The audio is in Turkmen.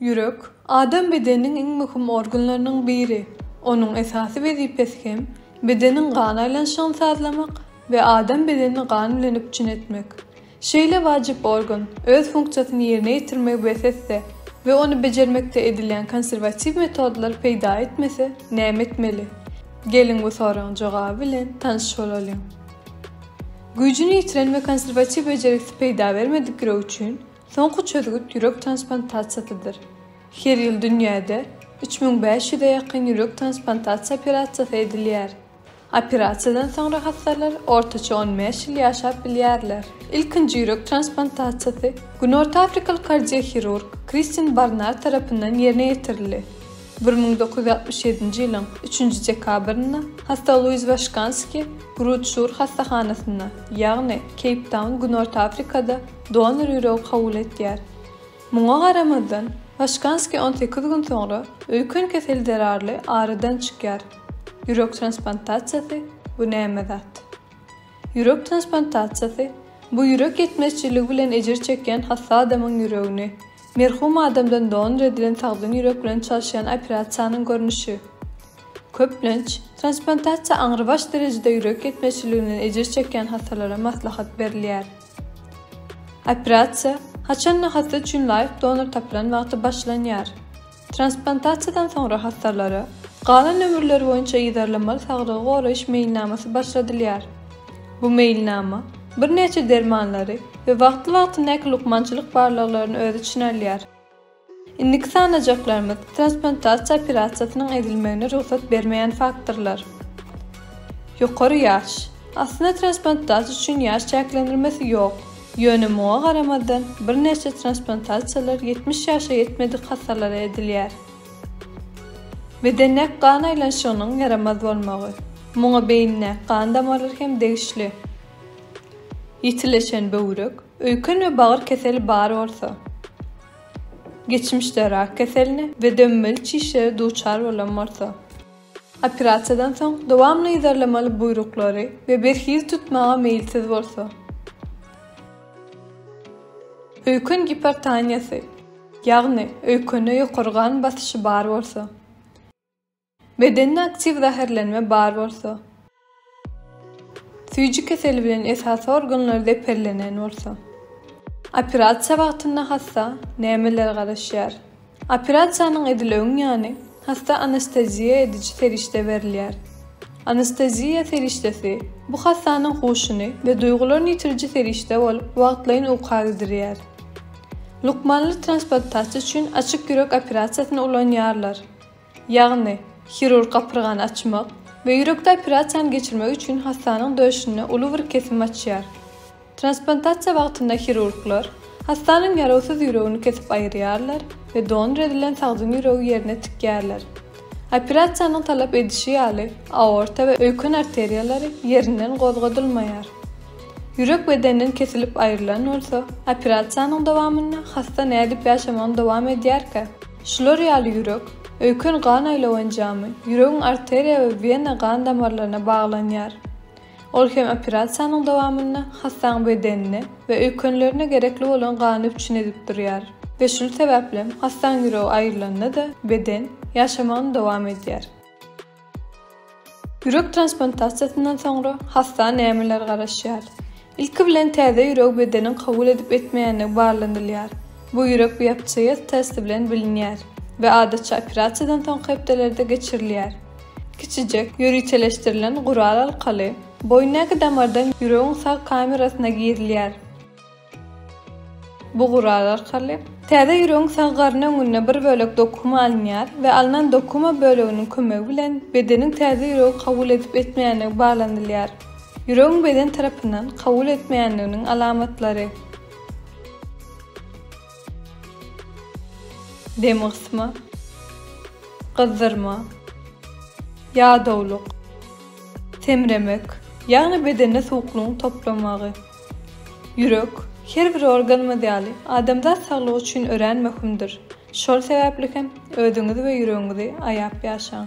Ýürek, adam bedeniniň iň möhüm organlarynyň biri. Onuň esasy wezipesi hem, bedeniň gan aýlanyşygyny sazlamak we adam bedenini gan bilen üpjün etmek. Şeýle wajyp organ, öz funksiýasyny ýerine ýetirmegi bes etse we ony bejermekde edilýän konserwatiw metodlar peýda etmese, näme etmeli? Geliň bu soragyň jogaby bilen tanyş bolalyň. Güýjüni ýitiren we konserwatiw bejergisi peýda bermedik ýürek üçin, Soňky çözgüt ýürek transplantasiýasydyr. Her ýyl dünýäde üç müň bäş ýüze ýakyn ýürek transplantasiýa operasiýasy edilýär. Operasiýadan soňra hassalar ortaça on bäş ýyl ýaşap bilýärler. Ilkinji ýürek transplantasiýasy günortaafrikaly kardiohirurg Kristin Barnar tarapyndan ýerine ýetirildi. Bir müň dokuz ýüz altmyş ýedinji ýylyň üçünji dekabrynda hassa Luiz Waşkanski Grutşur hassahanasynda, ýagny Keýptaun, Günorta Afrikada, Donor ýüregi kabul etýär. Muňa garamazdan, Başkanskiý on sekiz gün soňra öýken keseli zerarly aradan çykýar. Ýürek transplantasiýasy, bu näme zat? Ýürek transplantasiýasy, bu ýürek ýetmezçiligi bilen ejir çekýän hassa adamyň ýüregini, merhum adamdan donor edilen sagdyn ýürek bilen çalyşýan operasiýanyň görnüşi. Köplenç, transplantasiýa aňrybaş derejede ýürek ýetmezçiliginden ejir çekýän hassalara maslahat berilýär. Operasiýa haçan we hassa üçin laýyk donor tapylan wagty başlanýar? Transplantasiýadan soňra hassarlara galan ömürleri boýunça yzarlamaly saglygy goraýyş meýilnamasy başladylýar. Bu meýilnama birnäçe dermanlary we wagtly-wagtyndaky lukmançylyk barlaglaryny öz içine alýar. Indiki sanajaklarymyz, transplantasiýa operasiýasynyň edilmegine rugsat bermeýän faktorlar. Ýokary ýaş. Aslynda transplantasiýa üçin ýaş çäklendirmesi ýok. Ýöne muňa garamazdan, birnäçe transplantasiýalar ýetmiş ýaşa ýetmedik hassalara edilýär. Bedendäki gan aýlanyşygynyň ýaramaz bolmagy. Muňa beýindäki gan damarlary hem degişli. Ýitileşen böwrek. Öýken we bagyr keseli bar bolsa. Geçmişde rak keseline we döwmeli çişlere duçar bolan bolsa. Operasiýadan soň dowamly yzarlamaly buýruklary we berhiz tutmaga meýilsiz bolsa. Öýken gipertoniýasy, ýagny öýkende ýokary gan basyşy bar bolsa. Bedende aktiw zäherlenme bar bolsa. Süýji keseli bilen esasy organlar zeperlenen bolsa. Operasiýa wagtynda hassa nämeler garaşýar? Operasiýanyň edileüň ýany hassa anesteziýa ediji serişde berilýär. Anesteziýa serişdesi bu hassanyň huşuny we duýgularyny ýitiriji serişde bolup wagtlaýyn uka gidirýär. Lukmanlar transplantasiýa üçin açyk ýürek operasiýasyny ulanýarlar. ýagny hirurg gapyrgany açmak we ýürekde operasiýany geçirmek üçin hassanyň döşünde uly bir kesim açýar. Transplantasiýa wagtynda hirurglar hassanyň ýarawsyz ýüregini kesip aýyrýarlar we donor edilen sagdyn ýüregi ýerine tikýärler. Operasiýanyň talap edişi ýaly, aorta we öýken arteriýalary ýerinden gozgadylmaýar. Ýürek bedenden kesilip aýrylan bolsa, operasiýanyň dowamynda hassa nädip ýaşamagyny dowam edýärkä? Şular ýaly ýürek, öýken gan aýlaw enjamy, ýüregiň arteriýa we wena gan damarlaryna baglanýar. Ol hem operasiýanyň dowamynda hassaň bedenine we öýkenlerine gerekli bolan gany üpjün edip durýar. We şul sebäplem hassaň ýüregi aýrylanda-da beden ýaşamagyny dowam edýär. Ýürek transplantasiýasyndan soňra hassa nämeler garaşýar? Ilki bilen täze ýüregi bedeniň kabul edip etmeýändigi barlanylýar. Bu ýürek biopsiýasy testi bilen bilinýär we adatça operasiýadan soňky hepdelerde geçirilýär. Kiçijek, ýöriteleşdirilen gural arkaly boýundaky damardan ýüregiň sag kamerasyna girilýär. Bu gural arkaly täze ýüregiň sag garyn öňünde bir bölek dokuma alynýar we alnan dokuma böleginiň kömegi bilen bedeniň täze ýüregi kabul edip-etmeýändigi baglanylýar. Ýüregiň beden tarapyndan kabul etmeýändiginiň alamatlary. Dem gysma. Gyzzyrma. Ýadawlyk. Semremek, ýagny bedende suwuklygyň toplamagy. Ýürek, her bir organymyz ýaly, adamzat saglygy üçin örän möhümdir. Şol sebäpli hem özüňizi we ýüregiňizi aýap ýaşaň!